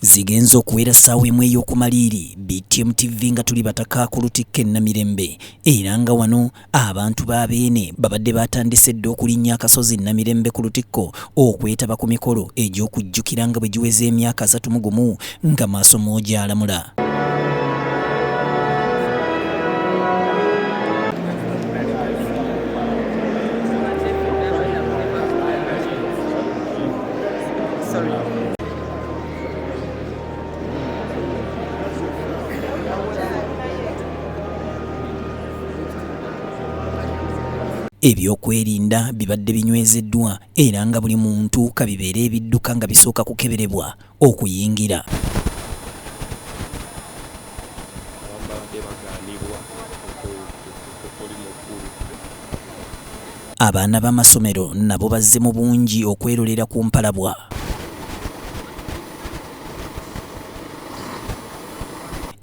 zigenze okuwera ssaawa emu ey'okumaliiri btm tv nga tuli bataka ku lutikka e namirembe era nga wano abantu ba beene babadde batandise dda okulinnya akasozi namirembe ku lutikko okwetaba ku mikolo egy'okujjukira nga bwe giweza emyaka asatu mu gumu nga maaso mwogyalamula Sorry. Ebyokwerinda bibadde binywezeddwa era nga buli muntu kabibeere ebidduka nga bisooka kukeberebwa okuyingira. Abaana b'amasomero nabo bazze mu bungi okwerolera ku mpalabwa.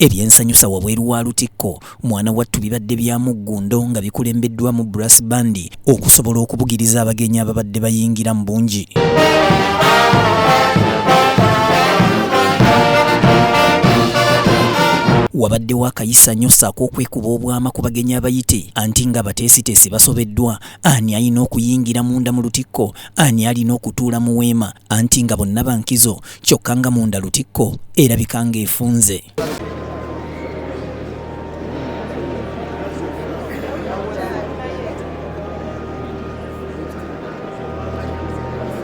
Ebyensanyusa wabweru wa Lutikko mwana wattu bibadde bya muggundo nga bikulembeddwamu Brass Band okusobola okubugiriza abagenyi ababadde bayingira mu bungi. wabaddewo akayisanyo ssaako okwekuba obwama ku bagenyi abayite anti nga Teesiteesi basobeddwa, ani alina okuyingira munda mu lutikko, ani alina okutuula mu weema anti nga bonna ba nkizo kyokka nga munda lutikko erabika ng'efunze.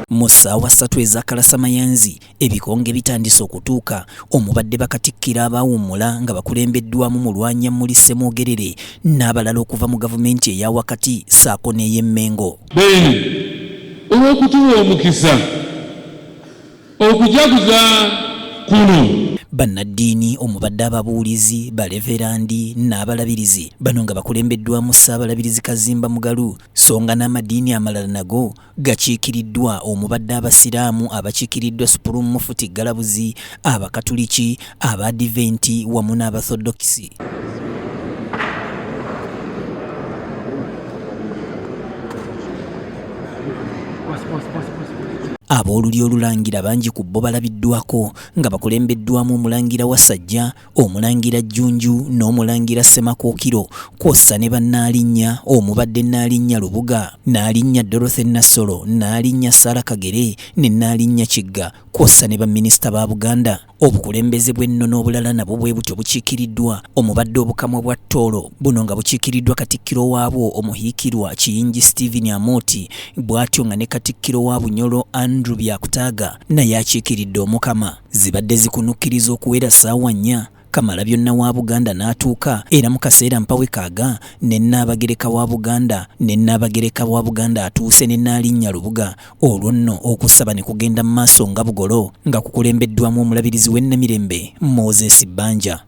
Mu ssaawa ssatu ez'akalasamayanzi Ebikonge bitandise okutuuka omubadde bakatikkiro abaawummula nga bakulembeddwamu Mulwanyammuli Ssemwogerere n'abalala okuva mu gavumenti eya wakati ssaako n'ey'e Mmengo. Beene olw'okutuwa omukisa okujaguza kuno. Bannaddiini omubadde ababuulizi, Baleverandi n'abalabirizi bano nga bakulembeddwamu Ssaabalabirizi Kazimba Mugalu sso nga n'amadiini amalala nago gakiikiriddwa omubadde Abasiraamu abakiikiriddwa Supulumu Mufuti Galabuzi, Abakatuliki, Abaadiventi wamu n'Abathodokisi. Aboolulyo olulangira bangi ku bo balabiddwako nga bakulembeddwamu Omulangira Wasajja, Omulangira Jjunju n'Omulangira Ssemakookiro kwossa ne bannaalinnya omubadde Nnaalinnya Lubuga, Nnaalinnya Dorothy Nassolo, Nnaalinnya Sarah Kagere ne Nnaalinnya Kigga kwossa ne baminisita ba Buganda. Obukulembeze bw'ennono obulala nabwo bwe butyo bukiikiriddwa omubadde Obukamwa bwa Tooro, buno nga bukiikiriddwa Katikkiro waabwo Omuhiikirwa Kiyingi Stephen Amooti bwatyo nga ne Katikkiro wa Bunyoro Andrew Byakutaaga naye akiikiridde Omukama. Zibadde zikunukkiriza okuwera ssaawa nnya, Kamalabyonna wa Buganda n'atuuka era mu kaseera mpawe kaaga ne Nnaabagereka wa Buganda ne Nnaabagereka wa Buganda atuuse ne Nnaalinnya Lubuga olwo nno okusaba ne kugenda mu maaso nga bugolo nga kukulembeddwaamu Omulabirizi w'e Namirembe, Moses Banja.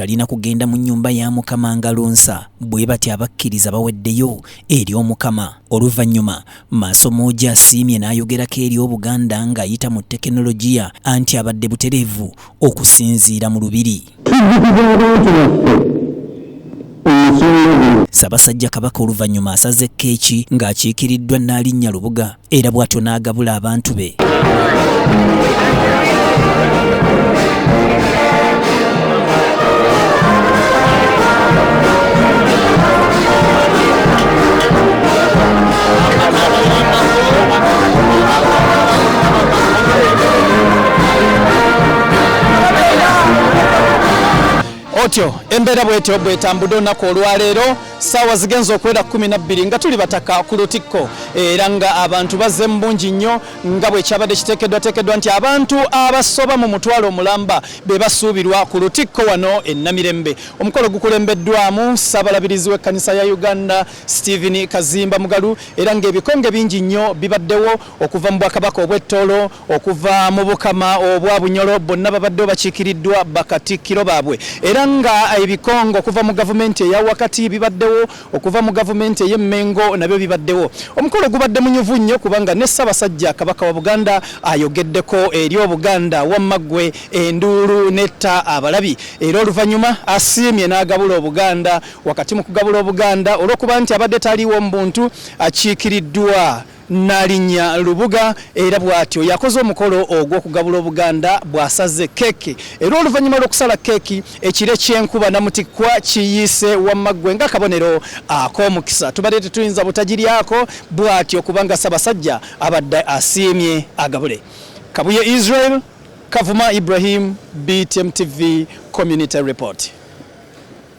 talina kugenda mu nnyumba ya Mukama nga lunsa. Bwe batyo abakkiriza baweddeyo eri Omukama. Oluvannyuma Maasomoogi asiimye n'ayogerako eri Obuganda ng'ayita mu tekinologiya anti abadde butereevu okusinziira mu Lubiri. Tujjukiza abantu baffe omusolo guno. Ssabasajja Kabaka oluvannyuma asaze keeki ng'akiikiriddwa Nnaalinnya Lubuga. era bw'atyo n'agabula abantu be otyo embeera bwetyo bwetambudde olunaku olwaleero Saawa zigenze okuwera kumi na bbiri nga tuli bataka ku lutikko era nga abantu bazze mu bungi nnyo nga bwe kyabadde kiteekeddwateekeddwa nti abantu abasoba mu mutwalo omulamba be basuubirwa ku lutikko wano e Namirembe. Omukolo gukulembeddwamu Ssabalabirizi w'ekkanisa ya Uganda Stephen Kazimba Mugalu era ng'ebikonge bingi nnyo bibaddewo okuva mu Bwakabaka obw'e Tooro okuva mu bukama obwa Bunyoro bonna babadde bakiikiriddwa bakatikkiro baabwe era nga ebikongo okuva mu gavumenti eya wakati bibaddewo okuva mu gavumenti ey'e Mmengo nabyo bibaddewo omukolo gubadde munyuvu nnyo kubanga ne Ssabasajja Kabaka wa Buganda ayogeddeko eri Obuganda wamma ggwe enduulu netta abalabi era oluvannyuma asiimye n'agabula Obuganda wakati mu kugabula Obuganda olw'okuba nti abadde taliiwo mu buntu akiikiriddwa Nnaalinnya Lubuga era bwatyo yakoze omukolo ogw'okugabula Obuganda bw'asaze keeki era oluvannyuma lw'okusala keeki ekire ky'enkuba namutikkwa kiyiise wamma ggwe ng'akabonero ak'omukisa tubadde tetuyinza butagiryako bwatyo kubanga Ssabasajja abadde asiimye agabule Kabuye Israel Kavuma Ibrahim BTM TV Community Report.